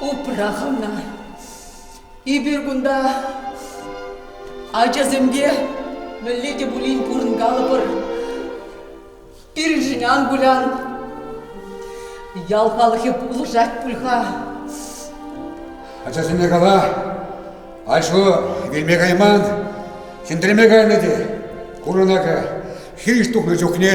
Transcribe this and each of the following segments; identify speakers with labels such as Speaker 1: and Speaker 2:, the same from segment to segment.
Speaker 1: Упрах ӑна. Эпир кунта ачасемпе мӗнле те пулин пурӑнкалӑпӑр. Пирӗншӗн ан кулян. Ял халӑхӗ пулӑшать пуль-ха. Ачасене
Speaker 2: кала, Айшу вилме кайман, хӗндреме кайнӑ те. Курӑнакӑ хирӗҫ тухнӑ чухне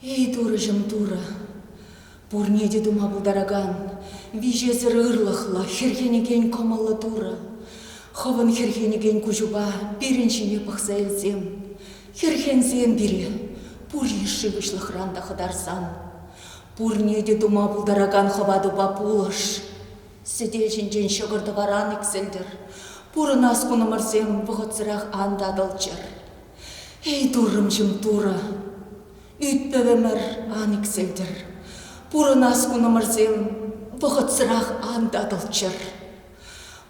Speaker 1: Эй, Турӑҫӑм, Турӑ! Пурне те тума пултаракан, виҫесӗр ырлӑхлӑ, хӗрхенекен кӑмӑллӑ Турӑ! Хӑвӑн хӗрхенекен куҫупа пирӗн ҫине пӑхса илсем, хӗрхенсем пире пур йышши выҫлӑхран та хӑтарсан, пурне те тума пултаракан хӑватупа пулӑш! Сӗтел ҫинчен ҫӑкӑр-тӑваран иксӗлтӗр, пурӑнас кунӑмӑрсем вӑхӑтсӑрах ан татӑлччӑр. Эй, туррӑмҫӑм, турӑ! Ӳт-пӗвӗмӗр ан иксӗлтӗр. Пурӑнас кунӑмӑрсем вӑхӑтсӑрах ан татӑлччӑр.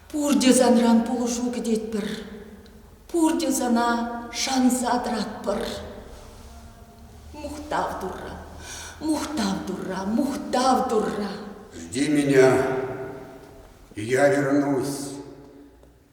Speaker 1: Пурте санран пулӑшу кӗтетпӗр. Пурте сана шанса тӑратпӑр. Мухтав Турра, мухтав Турра, мухтав Турра! Жди меня,
Speaker 2: я вернусь.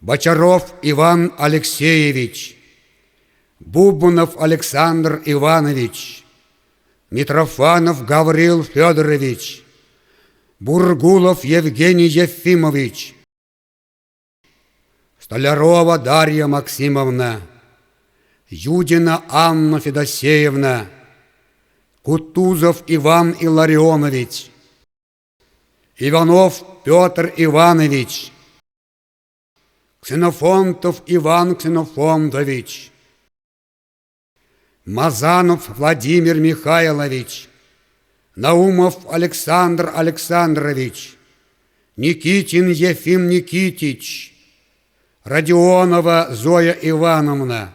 Speaker 2: Бочаров Иван Алексеевич, Бубнов Александр Иванович, Митрофанов Гаврил Федорович, Бургулов Евгений Ефимович, Столярова Дарья Максимовна, Юдина Анна Федосеевна, Кутузов Иван Илларионович, Иванов Петр Иванович, Ксенофонтов Иван Ксенофонтович, Мазанов Владимир Михайлович, Наумов Александр Александрович, Никитин Ефим Никитич, Родионова Зоя Ивановна,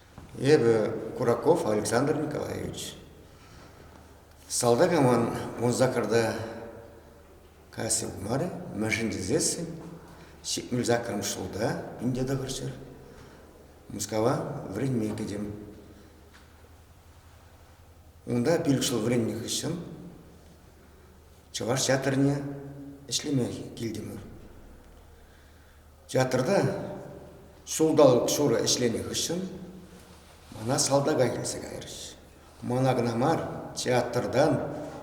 Speaker 3: Эпӗ
Speaker 2: Кураков Александр Николаевич. Салтакӑмӑн вун саккӑрта касси пымарӗ, мӗншӗн тесессӗн ҫитмӗл саккӑрмӗш ҫулта пинте тӑхӑрччӗр Мускава вӗренме кӗтӗм. Унта пилӗк ҫул вӗреннӗ хыҫҫӑн Чӑваш театрне ӗҫлеме килтӗмӗр. Театрта ҫулталӑк ҫурӑ ӗҫленӗ хыҫҫӑн мана салтака килсе кайрӗҫ. Мана кӑна мар, театртан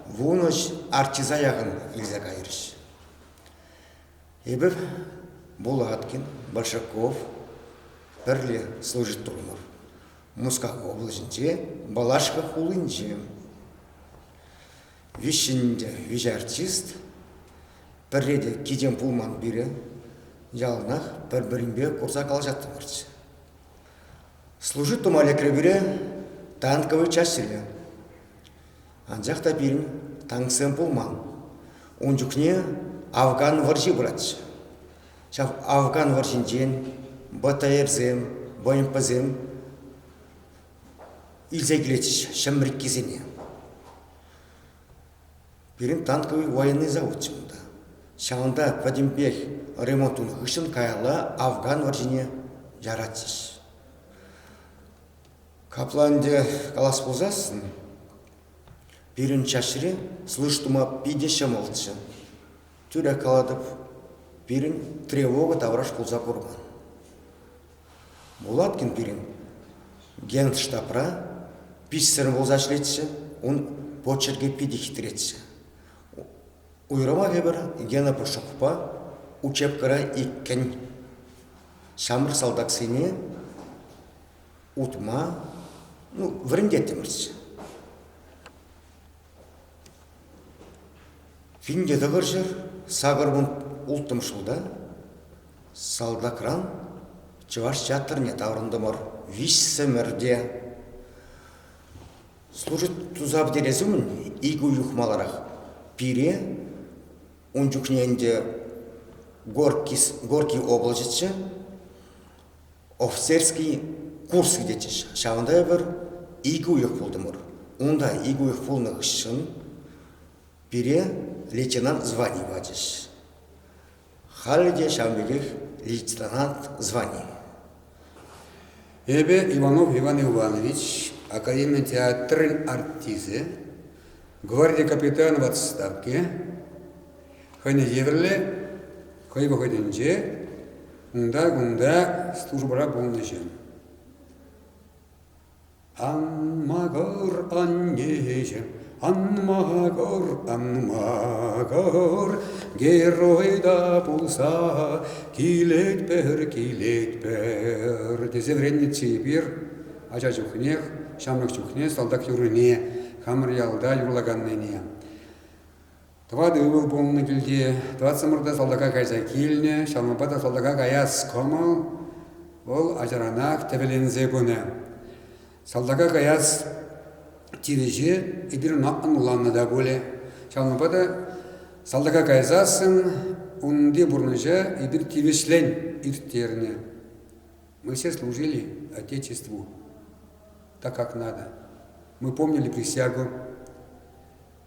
Speaker 2: вунӑҫ артиста яхӑн илсе кайрӗҫ. Эпир Булаткин, Большаков пӗрле служить турӑмӑр. Мускав облаҫӗнче, Балашка хулинче. Виҫҫӗнче виҫӗ артист, пӗрре те кичем пулман пире, яланах пӗр-пӗринпе курса калаҫаттӑмӑрччӗ. Служит тума лекрӗ пире танковый чаҫиле. Анчах та пирӗн танксем пулман. Ун чухне Афган вӑрҫи пыратчӗ. Ҫав Афган вӑрҫинчен БТРсем, БМПсем илсе килетчӗҫ ҫӗмрӗккисене. Пирӗн танковый военный заводчӗ унта. Ҫавӑнта пӗтӗмпех ремонт
Speaker 4: тунӑ хыҫҫӑн каялла Афган вӑрҫине яратчӗҫ. Капла ӗнтӗ калас пулсассӑн пирӗн чаҫре слыш тума питӗ ҫӑмӑлччӗ. Тӳрех калатӑп, пирӗн тревога тавраш пулса курман. Булаткин пирӗн Генштабра пичсӗр пулса ӗҫлетчӗ, ун почеркӗ питӗ хитретчӗ. Уйрӑмах эпир Гена Пушукпа учебкӑра иккӗн ҫамрӑк салтаксене утма ну, вӗрентеттӗмӗрччӗ. Пинте тӑкӑрҫӑр, сакӑрмӑн улттӑм ҫулта салтакран Чӑваш театрне таврӑнтӑмӑр виҫсӗмӗрте. Служит тусав терес умӗн ик уйӑх маларах пире, ун чухне ӗнтӗ Горький, Горький облаҫӗччӗ, Офицерский курс илетчӗҫ. Ҫавӑнта эпир икӗ уйӑх пултӑмӑр. Унта икӗ уйӑх пулнӑ хыҫҫӑн пире лейтенант звани пачӗҫ. Халӗ те ҫавӑн пекех лейтенант звани.
Speaker 2: Эпӗ Иванов Иван Иванович, академи театрӗн артисчӗ, гварди капитанӗ в отставке, Хӑйне евӗрлӗ хӑй вӑхӑтӗнче унта-кунта службӑра пулнӑҫем. Ан магӑр, аннеҫем, ан магӑр, ан магӑр, герой да пулса, килетпӗр, килетпӗр, тесе вӗреннӗччӗ эпир ача чухнех, ҫамрӑк чухне салтак юррине, хамӑр ялта юрлаканнине. Тӑватӑ ывӑл пулнӑ килте. Тӑватсӑмӑр та салтака кайса килнӗ. Ҫавӑнпа та салтака каяс кӑмӑл вӑл ачаранах тӗвӗленсе пынӑ. Салтака каяс тивӗҫе эпир ӑна ӑнланнӑ та пулӗ. Ҫавӑнпа та салтака кайсассӑн унти пурнӑҫа эпир тивӗҫлӗн ирттернӗ. Мы все служили Отечеству так, как надо. Мы помнили присягу.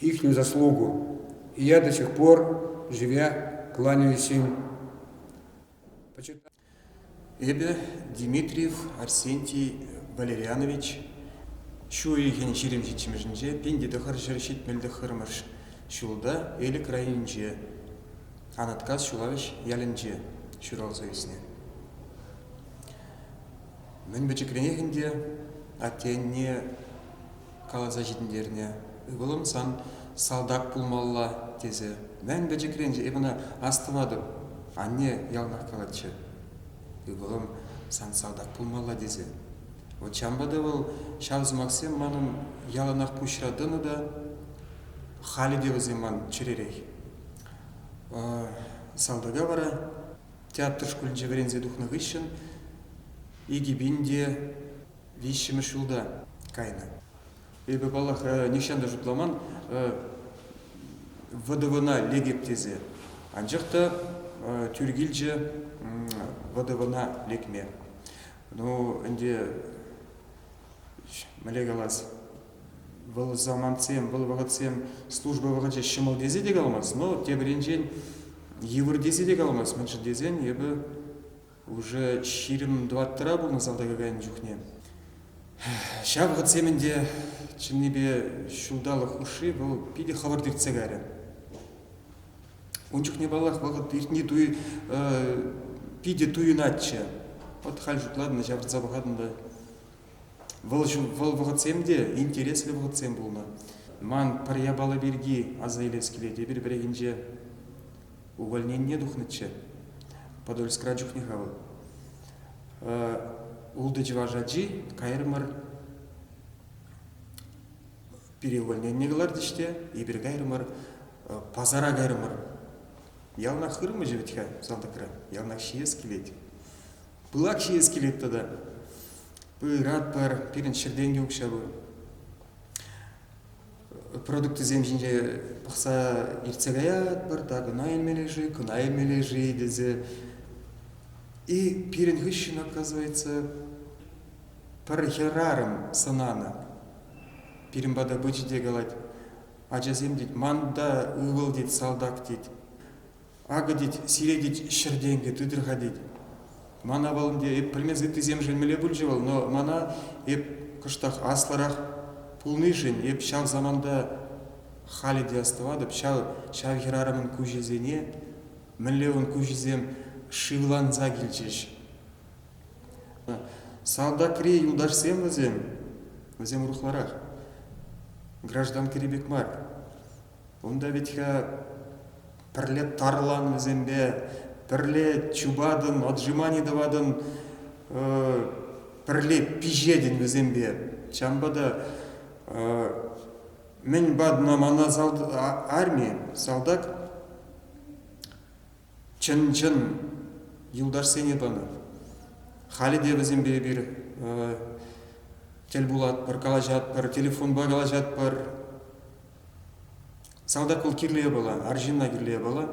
Speaker 2: Их заслугу. И я до сих пор, живя, кланяюсь им.
Speaker 5: Эпӗ Дмитриев Арсентий Валерьянович ҫу уйӑхӗн ҫирӗмҫиччӗмӗшӗнче пин те тӑхӑр ҫӗр ҫитмӗл тӑххӑрмӗш ҫулта Элӗк районӗнче, Анаткас Ҫулавӑҫ ялӗнче ҫуралса ӳснӗ. Мӗн пӗчӗкренех ӗнтӗ атте-анне каласа ҫитӗнтернӗ. Ывӑлӑм сан салтак пулмалла тесе мӗн пӗчӗкрен эп ӑна астӑватӑп. Анне яланах калатчӗ. Ывӑлӑм сан салтак пулмалла тесе. Вӑт ҫавӑнпа та вӑл ҫав сӑмахсем манӑн яланах пуҫра тӑнӑ та халӗ те вӗсем ман чӗререх. Салтака вара театр шкулӗнче вӗренсе тухнӑ хыҫҫӑн икӗ пин те виҫҫӗмӗш ҫулта кайнӑ. Эпӗ, паллах, нихҫан та шутламан вӑдӑвӑна лекӗп тесе. Анчах та тӳр килчӗ вӑдӑвӑна лекме. Ну, ӗнтӗ мӗнле калас, вӑл самантсем, вӑл вӑхӑтсем служба вӑхӑчӗ ҫӑмӑл тесе те каламасть, но тепӗринчен йывӑр тесе те каламасть. Мӗншӗн тесен эпӗ Уже ҫирӗм тӑваттӑра пулнӑ салтака кайнӑ чухне. Ҫав вӑхӑтсем ӗнтӗ чӑннипе ҫулталӑк хушши вӑл питӗ хӑвӑрт иртсе кайрӗ. Ун чухне, паллах, вӑхӑт иртни туй питӗ туйӑнатчӗ. Вӑт халь шутлатӑн та, ҫавӑртса пӑхатӑн та Вӑл, вӑл вӑхӑтсем те интереслӗ вӑхӑтсем пулнӑ. Ман пӗр япала пирки аса илес килет, эпир пӗррехинче увольнение тухнӑччӗ. Подольскра чухне-ха вӑл. Ултӑ чӑваш ачи кайрӑмӑр переувольнение кӑлартӗҫ те эпир кайрӑмӑр, пасара кайрӑмӑр. Яланах хырмӑҫӗ вӗт-ха салтакра, яланах ҫиес килет. Пылак ҫиес килет тата. Пыратпӑр, пирӗн ҫӗртен те укҫа пур. Продуктисем ҫинче пӑхса иртсе каятпӑр, та кӑна илмелле-ши, кӑна илмелле-ши тесе. И пирӗн хыҫҫӑн оказывается пӗр хӗрарӑм сӑнанӑ. Пирӗн пата пычӗ те калать, ачасем тет, манта ывӑл тет, салтак тет. Акӑ тет, сире тет, ҫӗр тенкӗ тытӑр-ха тет. Мана вӑл ӗнтӗ эп пӗлмес ыттисем шелмелле пулчӗ вӑл, но мана эп кӑштах аслӑрах пулнишӗн эп ҫав саманта халӗ те астӑватӑп, ҫав, ҫав хӗрарӑмӑн куҫӗсене, мӗнле ун куҫӗсем шывланса килчӗҫ. Салтакри юлташсем вӗсем, вӗсем урӑхларах, гражданкӑри пек мар, Унта вӗт-ха пӗрле тарлан вӗсемпе, пӗрле чупатӑн, отжимани тӑватӑн, пӗрле пиҫетӗн вӗсемпе. Ҫавӑнпа та мӗн патна мана арми, салтак чӑн-чӑн юлташсене панӑ. Халӗ те вӗсемпе эпир тӗл пулатпӑр, калаҫатпӑр, телефонпа калаҫатпӑр, Салтак вӑл кирлӗ япала, арҫынна кирлӗ япала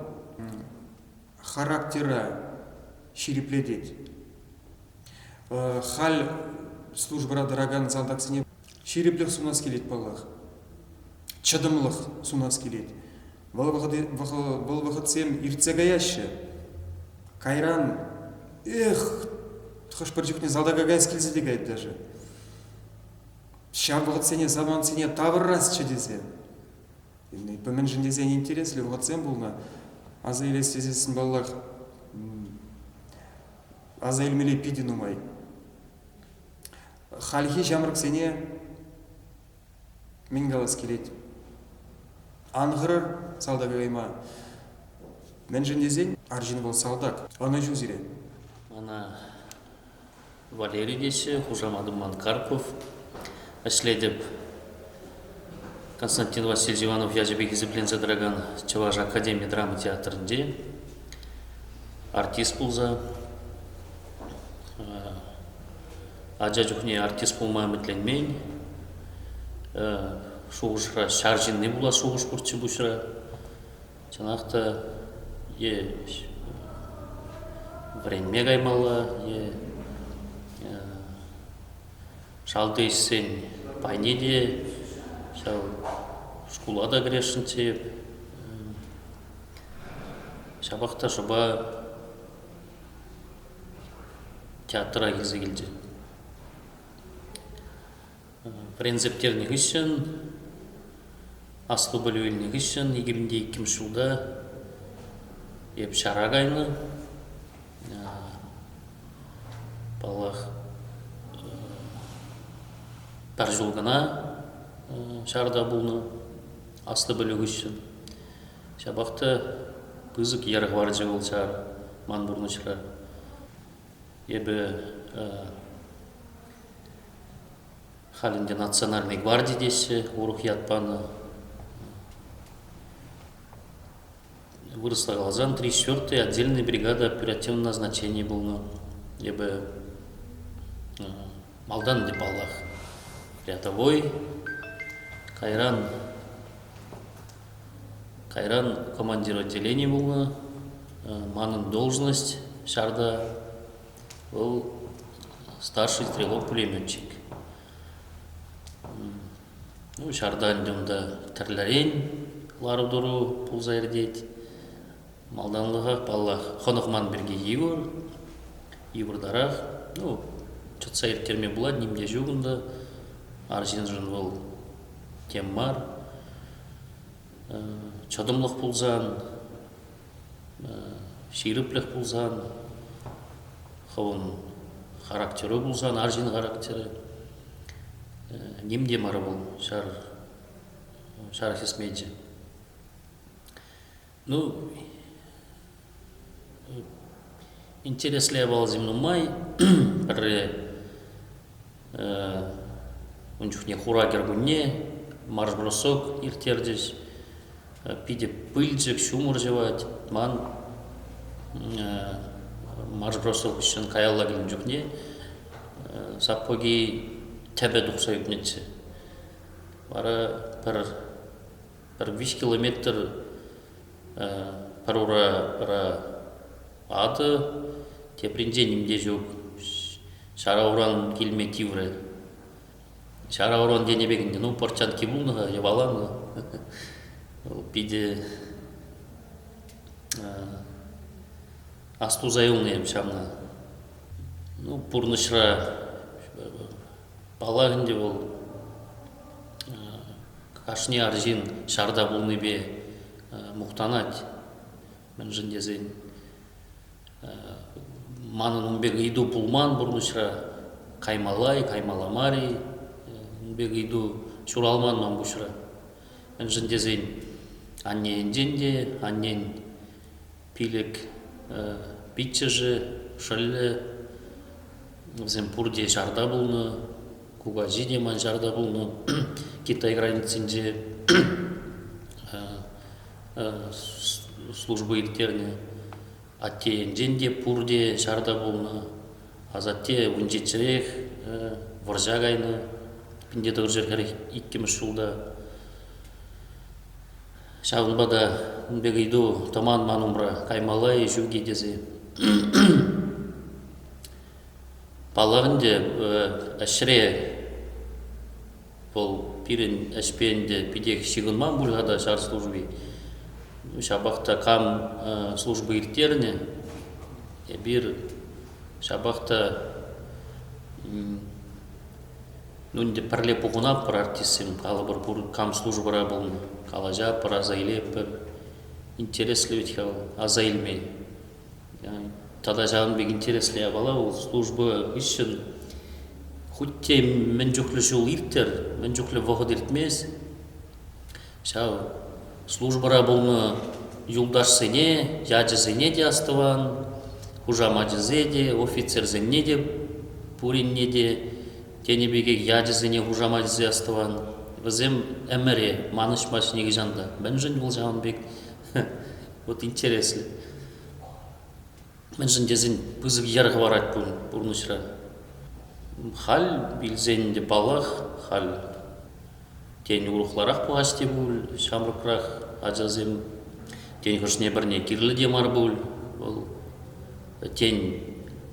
Speaker 5: характера ҫирӗплетет. Халь службӑра тӑракан салтаксене ҫирӗплӗх сунас килет паллах. Чӑтӑмлӑх сунас килет. Вӑл, вӑл вӑхӑтсем иртсе каяҫҫӗ. Кайран эх хӑш-пӗр чухне салтака каяс килсе те каять даже. Ҫав вӑхӑтсене, самантсене тавӑрасчӗ тесе. Эпӗ мӗншӗн тесен интереслӗ вӑхӑтсем пулнӑ. Аса илес тесессӗн, паллах, аса илмелли питӗ нумай. Хальхи ҫамрӑксене мӗн калас килет? Ан хӑрӑр салтака кайма. Мӗншӗн тесен арҫын вӑл салтак, ӑнӑҫу сире. Ӑна
Speaker 6: Валерий теҫҫӗ, хушаматӑм ман Карпов. Ӗҫлетӗп. Константин Васильевич Иванов ячӗпе хисепленсе тӑракан Чӑваш академи драма театрӗнче артист пулса ача чухне артист пулма ӗмӗтленмен. Шухӑшра ҫар ҫынни пулас шухӑш пурччӗ пуҫра. чӑнах та е вӗренме каймалла, е шалти ӗҫсен пайне те ҫав шкула та кӗресшӗн тейӗп. Ҫапах та шӑпа театра килсе килчӗ. Вӗренсерттернӗ хыҫҫӑн, аслӑ пӗлӳ илнӗ хыҫҫӑн иккӗмӗнте иккӗмӗш ҫулта эп ҫара кайнӑ. Паллах, пӗр ҫул кӑна ҫарта пулнӑ аслӑ пӗлӳ хыҫҫӑн. Ҫапах та пысӑк йӗр хӑварчӗ вӑл ҫар ман пурнӑҫра. Эпӗ халь ӗнтӗ национальнӑй гварди теҫҫӗ, урӑх ят панӑ. Вырӑсла каласан три четвертой отдельная бригада оперативного назначения пулнӑ. Эпӗ малтан ӗнтӗ паллах рядовой, кайран Кайран командир отделени пулнӑ. Манӑн должность ҫарта вӑл старший стрелок пулеметчик. Ну, ҫарта ӗнтӗ унта тӗрлӗрен лару-тӑру пулса иртет. Малтанлӑхах, паллах, хӑнӑх ман пирки йывӑр. Йывӑртарах. Ну, чӑтса ирттерме пулать, ним те ҫук унта. Арҫыншӑн вӑл тем мар. Чӑтӑмлӑх пулсан, ҫирӗплӗх пулсан, хӑвӑн характеру пулсан, арҫын характерӗ ним те мар вӑл ҫар ҫар хӗсмечӗ. Ну, интереслӗ явалсем нумай. Пӗрре ун чухне хура кӗркунне марш-бросок ирттерчӗҫ. Питӗ пылчӑк, ҫумӑр ҫӑвать. Ман марш-бросок ӗҫшӗн каялла килнӗ чухне сапоги тӗпӗ тухса ӳкнӗччӗ. Вара пӗр пӗр виҫ километр пӑрура атӑ, тепринчен ним те ҫук. Ҫара уран килме тиврӗ. Ҫара уран тенӗ пек ӗнтӗ, ну, пӑрчанки пулнӑ-ха, йӑваланӑ. Питӗ астуса юлнӑ эп ҫавна. Ну, пурнӑҫра Паллах ӗнтӗ вӑл кашни арҫын ҫарта пулнипе мухтанать, мӗншӗн тесен манӑн ун пек ыйту пулман пурнӑҫра, каймалла-и, каймалла мар-и, ун пек ыйту ҫуралман ман пуҫра. Мӗншӗн тесен анне енчен те, аннен Пилӗк пиччӗшӗ шӑллӗ, вӗсем пурте ҫарта пулнӑ, кукаҫи те ман ҫарта пулнӑ. Китай границинче служба ирттернӗ. Атте енчен те пурте ҫарта пулнӑ. Асатте ун ҫиччӗрех вӑрҫа кайнӑ. Пин тӑвӑр ҫӗр хӗрех иккӗмӗш ҫулта. Ҫавӑнпа та ун пек ыйту тӑман ман умра каймалла-и ҫук-и тесе. Паллах ӗнтӗ, ӗҫре вӑл пирӗн ӗҫпе ӗнтӗ питех ҫыхӑнман пуль-ха та ҫар служби. Ҫапах та кам служба ирттернӗ, эпир ҫапах та Нунӗ пӗрле пухӑнатпӑр артистсем, калӑпӑр пур кам службӑра пулнӑ, калаҫа пӑраса илетпӗр. Интереслӗ вӗт-ха вӑл, аса илмен. Тата ҫавӑн пек интереслӗ япала вӑл служба хыҫҫӑн хуть те мӗн чухлӗ ҫул ирттӗр, мӗн чухлӗ вӑхӑт иртмест. Ҫав службӑра пулнӑ юлташсене, ячӗсене те астӑван, хушамачӗсене те, офицерсене те пуринне те тенӗ пекех ячӗсене, хушамачӗсене астӑван. Вӗсем ӗмӗре манӑҫмасть нихӑҫан та. Мӗншӗн вӑл ҫавӑн пек вот интереслӗ. Мӗншӗн тесен пысӑк йӗр хӑварать пур пурнӑҫра. Халь илсен те паллах, халь Тен, урӑхларах пулас те пуль ҫамрӑкрах ачасем. Тен, хӑшне пӗрне кирлӗ те мар пуль вӑл. Тен,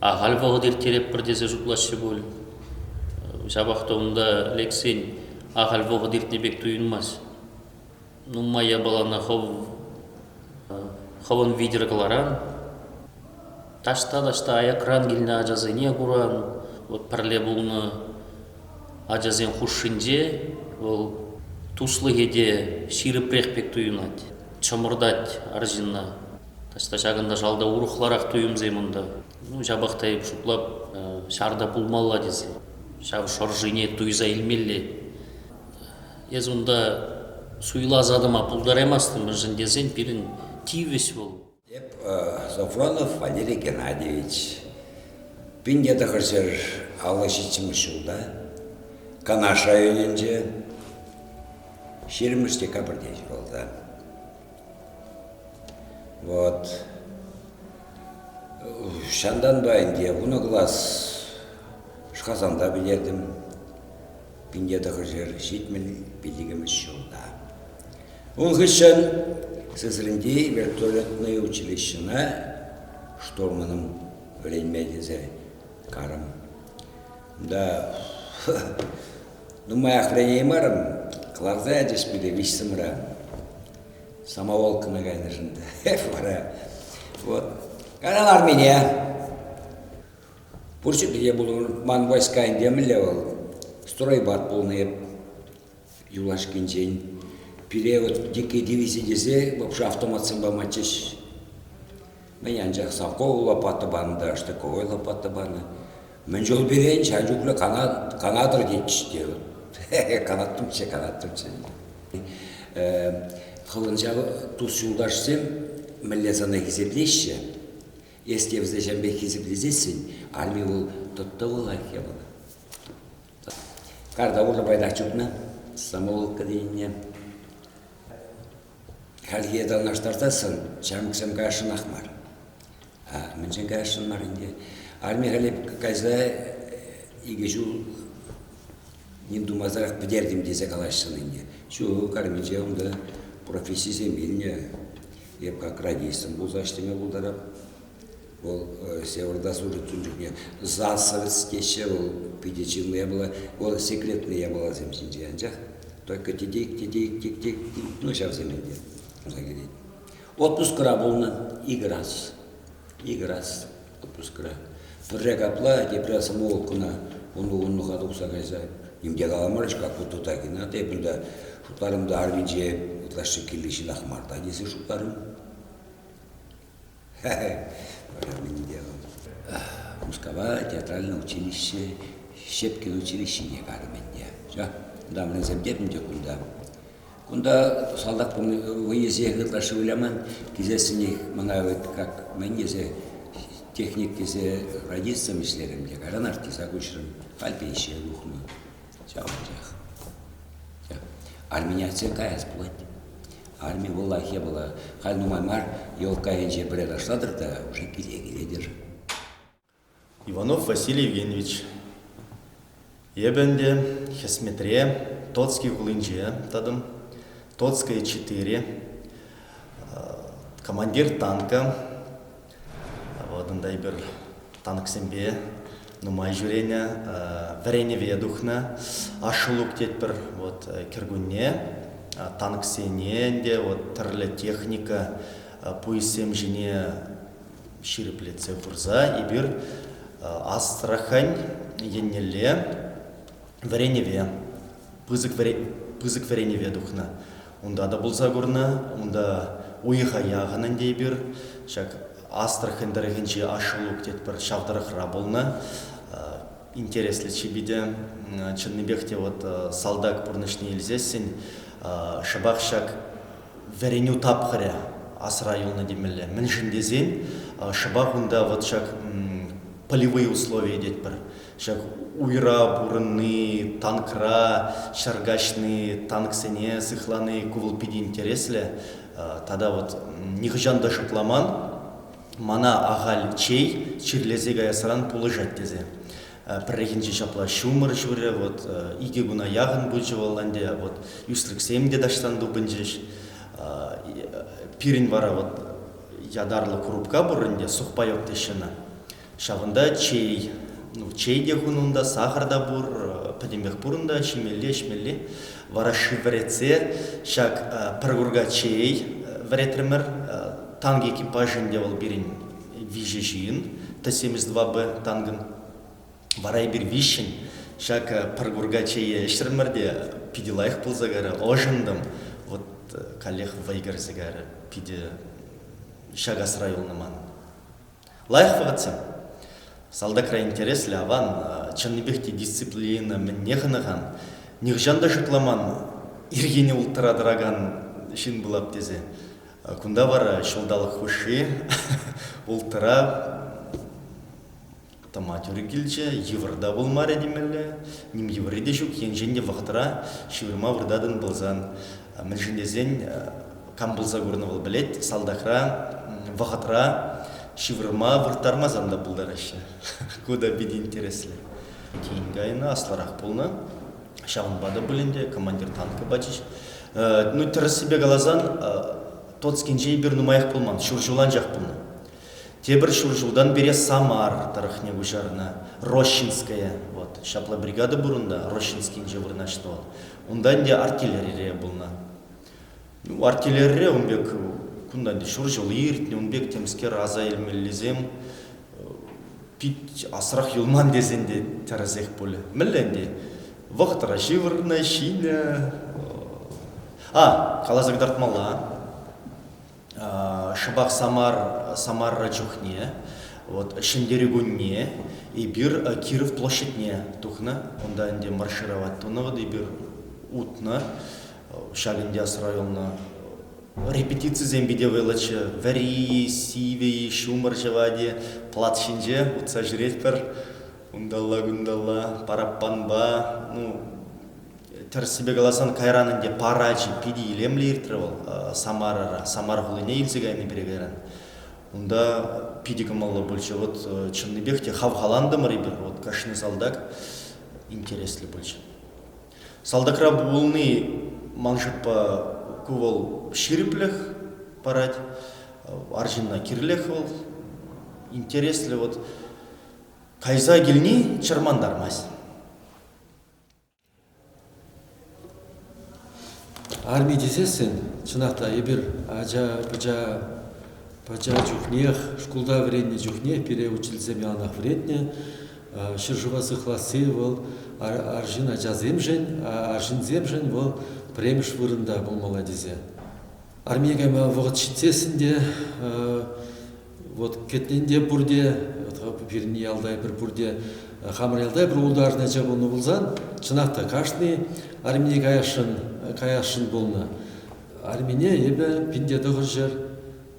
Speaker 6: ахаль вӑхӑт ирттереппӗр тесе шутлаҫҫӗ пуль. Ҫапах та унта лексен ахаль вӑхӑт иртнӗ пек туйӑнмасть. нумай япалана хӑвӑн витӗр кӑларан, таҫта-таҫта аякран килнӗ ачасене куран. Вот пӗрле пулнӑ ачасен хушшинче вӑл туслӑхӗ те ҫирӗпрех пек туйӑнать, чӑмӑртать арҫынна. Таҫта ҫакӑнта шалта урӑхларах туйӑмсем унта. Ну, ҫапах та эп шутлап, ҫар та пулмалла тесе. Ҫав шӑршине туйса илмелле. Эс унта суйласа тӑма пултараймастӑн мӗншӗн тесен пирӗн тивӗҫ вӑл.
Speaker 7: Эп
Speaker 6: Зафронов
Speaker 7: Валерий
Speaker 6: Геннадьевич,
Speaker 7: пин тӑхӑрҫӗр аллӑ ҫиччӗмӗш ҫулта Канаш районӗнче ҫирӗммӗш декабрьте ҫуралса. Вот. Ҫантанпа ӗнтӗ вунӑ класс Шхасанта пӗлертӗм. Пинте тӑхӑрҫӗр ҫитмӗл виҫикӗмӗш ҫулта. Ун хыҫҫӑн Сызринти вертолетнӑй училищӑна штурманом вӗренме тесе карӑм. Да нумаях вӗренеймарӑм, кӑларса ячӗҫ пире виҫсӗмра. Самоволкӑна кайнӑшӑн та вара. Вот. Канал армине. Пур ҫӗрте те пулӑр. Ман войска ӗнтӗ мӗнле вӑл? Стройбат пулнӑ эп юлашкинчен. Пире вот дикой дивизи тесе вообще автоматсем паматчӗҫ. Мӗн анчах совковую лопата панӑ та штыковой лопата панӑ. Мӗн чул пирен ҫав чухлӗ канат, канатӑр тетчӗҫ те. канаттӑмччӗ, канаттӑмччӗ. Хӑвӑн ҫав тус-юлташсем мӗнле сана хисеплеҫҫӗ? Если вӗсеҫемпе хисеплесессӗн, арми вӑл тӑттӑвӑлах япала. Карта урлӑ пайтах чупнӑ, самоволка тенине. Хальхи танлаштарсассӑн ҫамрӑксем каясшӑнах мар. А мӗншӗн каясшӑн мар ӗнтӗ? Арми халӗ кайса икӗ ҫул ним тумасӑрах пӗтертӗм тесе калаҫҫӑн ӗнтӗ. Ҫук, арминче унта профессисем илнӗ. Эп как радистом пулса ӗҫлеме пултарап. Вӑл Северда сурӑттун чухне засовец теҫҫӗ, вӑл питӗ чынлӑ япала, вӑл секретлӗ япаласем ҫинче анчах. Только тетек, тетек, тек-тек, ну ҫавсем ӗнтӗ ӑса килет. Отпускра пулнӑ икӗ раз. Икӗ раз. отпускра. Пӗрре капла тепре самовоккӑна вунпа-вуннӑха тухса кайса ним те каламарӗҫ-ка Кутутакина. Эпӗ та шутларӑм та арминче ытлашши килни ҫынах мар та тесе шутларӑм. Вара мӗн те Мускава театральное училище, Щепкин училищине карӑм ӗнтӗ. Ҫа, дамринсем тепӗн те кунта. Кунта салтак вӑйӗсех ытлашши выляман. Килсессӗнех мана вот как мӗн тесе техник тесе радистом ӗҫлерӗм те кайран артиста куҫрӑм. Халь пенсие тухнӑ. Ҫав анчах. Армяне каяс пулать. Арми вӑлах япала. Халь нумай мар елка енче пӗре ташлатӑр та уже киле килетӗр.
Speaker 8: Иванов Василий Евгеньевич. Эпӗ ӗнтӗ хӗсметре Тотский хулинче тӑтӑм. Тотская 4, командир танка. Вот унта эпир танксемпе нумай ҫӳренӗ, вӗренӗве тухнӑ. Ашшӗлук тетпӗр вот кӗркунне. Танксене ӗнтӗ вот тӗрлӗ техника пуйӑссем ҫине ҫирӗплетсе хурса эпир Астрахань еннелле вӗренӗве, пысӑк, пысӑк вӗренӗве тухнӑ. Унта та пулса курнӑ, унта уйӑха яхӑн ӗнтӗ эпир. Ҫак Астрахань тӑрӑхӗнчи Ашулук тетпӗр ҫав тӑрӑхра пулнӑ. Интереслӗ чипӗте чӑннипех те вот салтак пурнӑҫне илсессӗн шӑпах ҫак Вӗренӳ тапхӑрӗ асра юлнӑ темелле. Мӗншӗн тесен шӑпах унта вӑт ҫак полевые условия тетпӗр. Ҫак уйра пурӑнни, танкра ҫӗр каҫни, танксене сыхлани ку вӑл питӗ интереслӗ. Тата вот нихӑҫан та шутламан, мана ахаль чей чирлесе каясран пулӑшать тесе. Пӗррехинче ҫапла ҫумӑр ҫурӗ, вот икӗ куна яхӑн пычӗ вӑл ӗнтӗ, вот ӳсрӗксем те таҫтан тупӑнчӗҫ. Пирӗн вара вот ятарлӑ курупка пур ӗнтӗ, сухпайок теҫҫӗ ӑна. Ҫавӑнта чей, ну чей те хун унта, сахӑр та пур, пӗтӗмпех пур унта, ҫимелли, ӗҫмелли. Вара шыв вӗретсе ҫак пӗр курка чей вӗретрӗмӗр. Танк экипаж ӗнтӗ вӑл пирӗн виҫӗ ҫын, Т-72Б танкӑн, вара эпир виҫҫӗн. Ҫак пӗр курка чейе ӗҫрӗмӗр те питӗ лайӑх пулса кайрӗ, ӑшӑнтӑм. Вот каллех вӑй кӗрсе кайрӗ. Питӗ ҫак асра юлнӑ ман. Лайӑх вӑхӑтсем. Салтакра интереслӗ аван, чӑннипех те дисциплина мӗнне хӑнӑхан. Нихӑҫан та шутламан, ирхине улттӑра тӑракан ҫын пулап тесе. Кунта вара ҫулталӑк хушши ултӑра томатюрӗ килчӗ, йывӑр та пулмарӗ темелле, ним йывӑрри те ҫук, енчен те вӑхӑтра ҫывӑрма выртатӑн пулсан. Мӗншӗн тесен кам пулса курнӑ вӑл пӗлет, салтакра вӑхӑтра ҫывӑрма вырттармасан та пултараҫҫӗ. Ку та питӗ интереслӗ. Тин кайнӑ, аслӑрах пулнӑ. Ҫавӑнпа та пулин те командир танка пачӗҫ. Ну, тӗрӗссипе каласан, Тоцкинче эпир нумаях пулман, ҫур ҫул анчах пулнӑ. Тепӗр ҫур ҫултан пире Самар тӑрӑхне куҫарнӑ, Рощинская, вот, ҫапла бригада пур унта, Рощинскинче вырнаҫнӑ вӑл. Унта ӗнтӗ артиллерире пулнӑ. Артиллерире ун пек кунтан ҫур ҫул иртнӗ, ун пек темскер аса илмеллисем пит асрах юлман тесен те тӗрӗсех пулӗ. Мӗнле ӗнтӗ? Вӑхӑтра ҫывӑрнӑ, ҫинӗ. А, каласа кӑтартмалла. Шӑпах Самар, Самарра чухне, вот Ҫӗнтерӳ кунне эпир Киров площадьне тухнӑ. Унта ӗнтӗ маршировать тунӑ, вот эпир утнӑ. Ҫак Индяс районна репетицисем питӗ вӑйлӑччӗ. Вӗри, сивӗ, ҫумӑр ҫӑвать-и, плат ҫинче утса ҫӳретпӗр. Унталла-кунталла, параппанпа, ну, тӗрӗссипе каласан, кайран ӗнтӗ парачӗ питӗ илемлӗ иртрӗ вӑл Самарара. Самар хулине илсе кайни пире кайран. Унта питӗ кӑмӑллӑ пулчӗ. Вот э, чӑннипех те хавхалантӑмӑр эпир, вот кашни салтак интереслӗ пулчӗ. Салтакра пулни ман шутпа ку вӑл ҫирӗплӗх парать. Арҫынна кирлех вӑл. Интереслӗ вот кайса килни чӑрмантармасть.
Speaker 9: Арми тесессӗн, чӑнах та эпир ача-пӑча пача чухнех, шкулта вӗреннӗ чухнех пире учительсем яланах вӗретнӗ. Ҫӗршыва сыхласси вӑл арҫын ачасемшӗн, арҫынсемшӗн вӑл пӗрремӗш вырӑнта пулмалла тесе. Армие кайма вӑхӑт ҫитсессӗн те вот кӗтнен те пурте, пирӗн ялта эпир пурте хамӑр ялта эпир ултарнӑччӗ пулнӑ пулсан, чӑнах та кашни армие каясшӑн каясшӑн пулнӑ. Армине эпӗ пин те тӑхӑр ҫӗр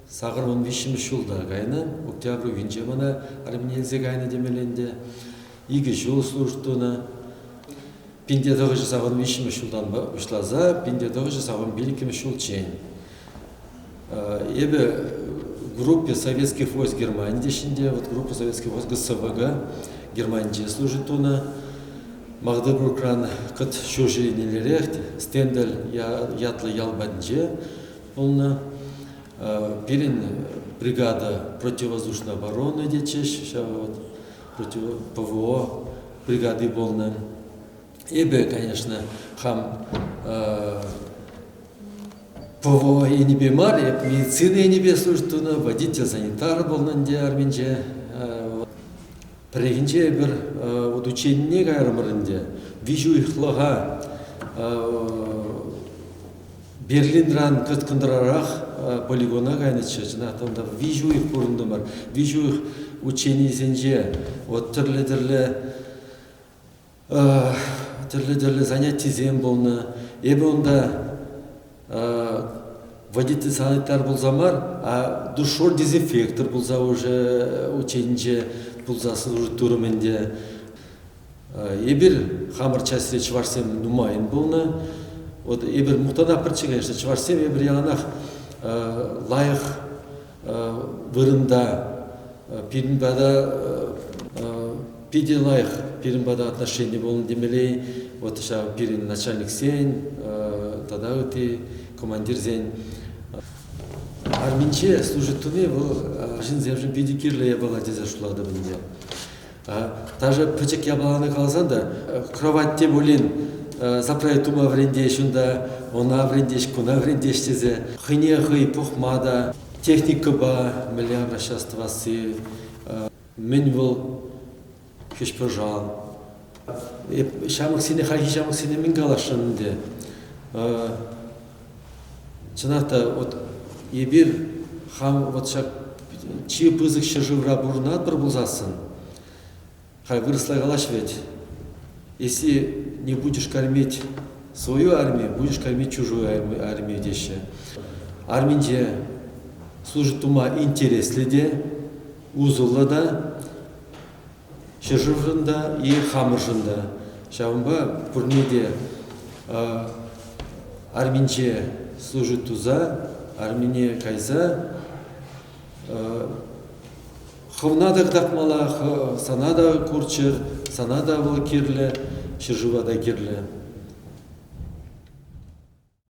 Speaker 9: Сакӑр вун виҫҫӗмӗш ҫул та кайнӑ. Октябрь уйӑхӗнче мана армине илсе кайнӑ темелле ӗнтӗ. Икӗ ҫул служба тунӑ. Пинте тӑхӑҫӗ савӑн виҫҫӗмӗш ҫултанпа пуҫласа пинте тӑхӑҫӗ савӑн пилӗкмӗш ҫулччен. Эпӗ группе Советских войск Германии теҫҫӗ вот группа Советских войск ГСВГ Германинче служить тунӑ. Магдебургран кӑт ҫурҫӗренеллерех стендель ятлӑ ял патӗнче пулнӑ. Пирӗн бригада противовоздушной обороны тетчӗҫ, ҫав ПВО бригади пулнӑ. Эпӗ, конечно, хам ПВО енӗпе мар, эп медицина енӗпе служба тунӑ, водитель санитар пулнӑ ӗнтӗ арминче. Пӗррехинче эпир удученине кайрӑмӑр ӗнтӗ. Виҫӗ уйӑхлӑха Берлинран тыткӑнрарах полигона кайнӑччӗ. Чӑнах та унта виҫӗ уйӑх пурӑнтӑмӑр. Виҫӗ уйӑх ученисенче вот тӗрлӗ-тӗрлӗ тӗрлӗ-тӗрлӗ занятисем пулнӑ. Эпӗ унта водитель санитар пулса мар, а душор дезинфектор пулса уже ученинче пулса служить турӑм ӗнтӗ. Эпир хамӑр частьре чӑвашсем нумайӑн пулнӑ. Вот эпир мухтанах пӗрччӗ, конечно, чӑвашсем эпир яланах лайӑх вырӑнта пирӗн пата питӗ лайӑх пирӗн пата отношени пулнӑ темелей. Вот ҫав пирӗн начальниксен тата ытти командирсен арминче служить туни вӑл ҫынсемшӗн питӗ кирлӗ япала тесе шутлатӑп ӗнтӗ. Даже пӗчӗк япалана каласан та, кровать те пулин заправить тума вӗрентеҫ унта, ӑна вӗрентеҫ, куна вӗрентеҫ тесе хӑйне хӑй пухма та, техникӑпа мӗнле обращаться тӑвасси, мӗн вӑл хӗҫпӑшал. Ҫамрӑксене, хальхи ҫамрӑксене мӗн каласшӑн ӗнтӗ? Чӑнах та, вот эпир хам вот ҫак чи пысӑк ҫӗршывра пурӑнатпӑр пулсассӑн, хай вырӑсла калаҫ вӗт, если не будешь кормить свою армию, будешь кормить чужую армию теҫҫӗ. Арминче служить тума интереслӗ те, усӑллӑ та, Ҫӗршывшӑн та, и хамӑршӑн та. Ҫавӑнпа пурне те арминче служить туса, армине кайса хӑвна та кӑтартмалла, сана та курччӑр, сана та вӑл кирлӗ, ҫӗршыва та кирлӗ.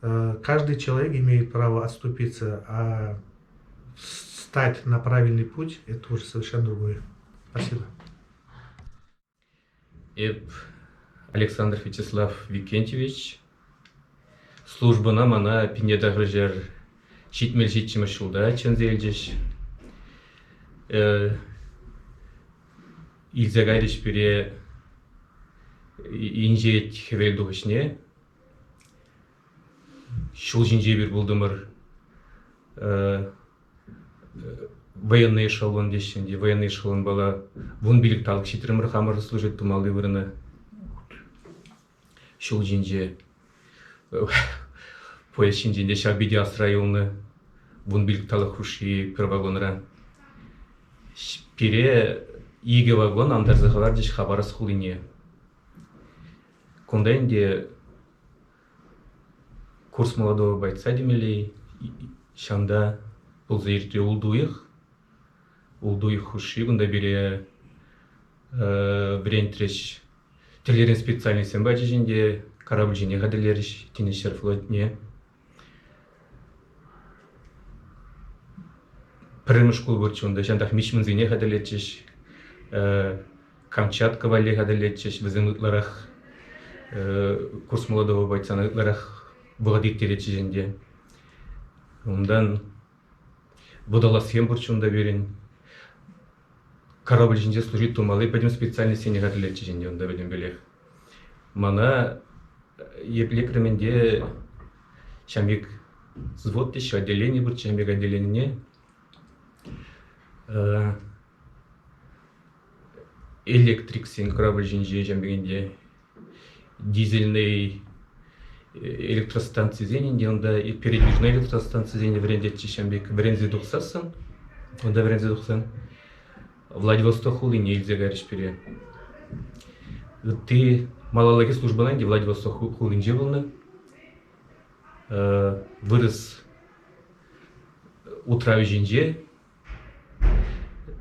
Speaker 10: каждый человек имеет право отступиться, а стать на правильный путь – это уже совершенно другое. Спасибо.
Speaker 11: Эп Александр Вячеслав Викентьевич. Службӑна мана пинедахрӑшер ҫитмел ҫиччӗмӗш ҫулта чӗнсе илчӗҫ. Илсе кайрӗҫ пире инҫет хӗвел тухӑҫне. Ҫул ҫинче эпир пултӑмӑр. Военный эшелон теҫҫӗ ӗнтӗ. Военный эшелонпала вун пилӗк талӑк ҫитрӗмӗр. Хамӑр служить тумалли вырӑна. Ҫул ҫинче. Поезд ҫинчен те ҫав питӗ асра юлнӑ. Вун пилӗк талӑк хушши пӗр вагонра. Пире икӗ вагон антарса хӑварчӗҫ Хабаровск хулине. Кунта ӗнтӗ курс молодого бойца темелле ҫавӑнта пулса иртнӗ ултуйӑх. Ултуйӑх хушши кунта пире вӗрентрӗҫ. Тӗллеврен специальноҫсем пачӗҫ ӗнтӗ. Корабль ҫине хатӗрлерӗҫ тинӗс ҫӗр флотне. Пӗрремӗш шкул пурччӗ унта, ҫантах мичмансене хатӗрлетчӗҫ. Камчатка валли хатӗрлетчӗҫ. Вӗсем ытларах курс молодого бойцана ытларах вӑхӑт ирттеретчӗҫ ӗнтӗ. Унтан Водолазсем пур чун та пирӗн. Корабль ҫинче служить тумалли пӗтӗм специальноҫсене хатӗрлетчӗҫ ӗнтӗ унта пӗтӗмпелех. Мана епле кӗрмен те ҫам пек взвод теҫҫӗ, отделение пур ҫам пек отделенине. Электриксен корабль ҫинче ҫам пекенде дизельнӑй электростанцисенӗн те унта передвижной электростанцисене вӗрентетчӗ ҫam пек вӗренсе тухсассӑн унта вӗренсе тухсан Владивосток хулине илсе кайрӗҫ пире ытти малаллахи службӑна ӗнтӗ Владивосток хулинче пулнӑ вырӑс утравӗ ҫинче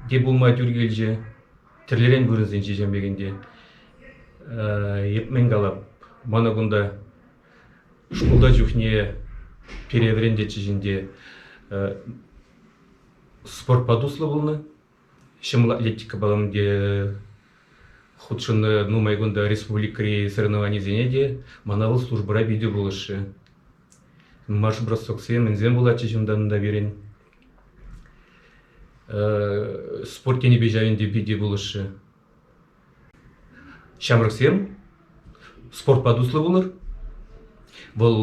Speaker 11: те пулма тӳр килчӗ. Тӗрлӗрен вырӑнсенче ҫемлекен те. Мӗн калап, мана кунта шкулта чухне пире вӗрентетчӗҫ ӗнтӗ. Спортпа туслӑ пулнӑ. Ҫӑмӑл атлетикӑпа ӗнтӗ хутшӑннӑ. Нумай кунта республикӑри соревнованисене те мана вӑл службӑра питӗ пулӑшрӗ. Нумай бросоксем, мӗнсем пулатчӗҫ унта пирӗн. Спорт енӗпе ҫав ӗнтӗ питӗ пулӑшрӗ. Ҫамрӑксем спортпа туслӑ пулӑр. Вӑл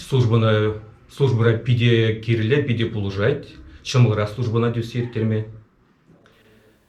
Speaker 11: службӑна службӑра питӗ кирлӗ, питӗ пулӑшать. Ҫӑмӑлрах службӑна тӳссе ирттерме.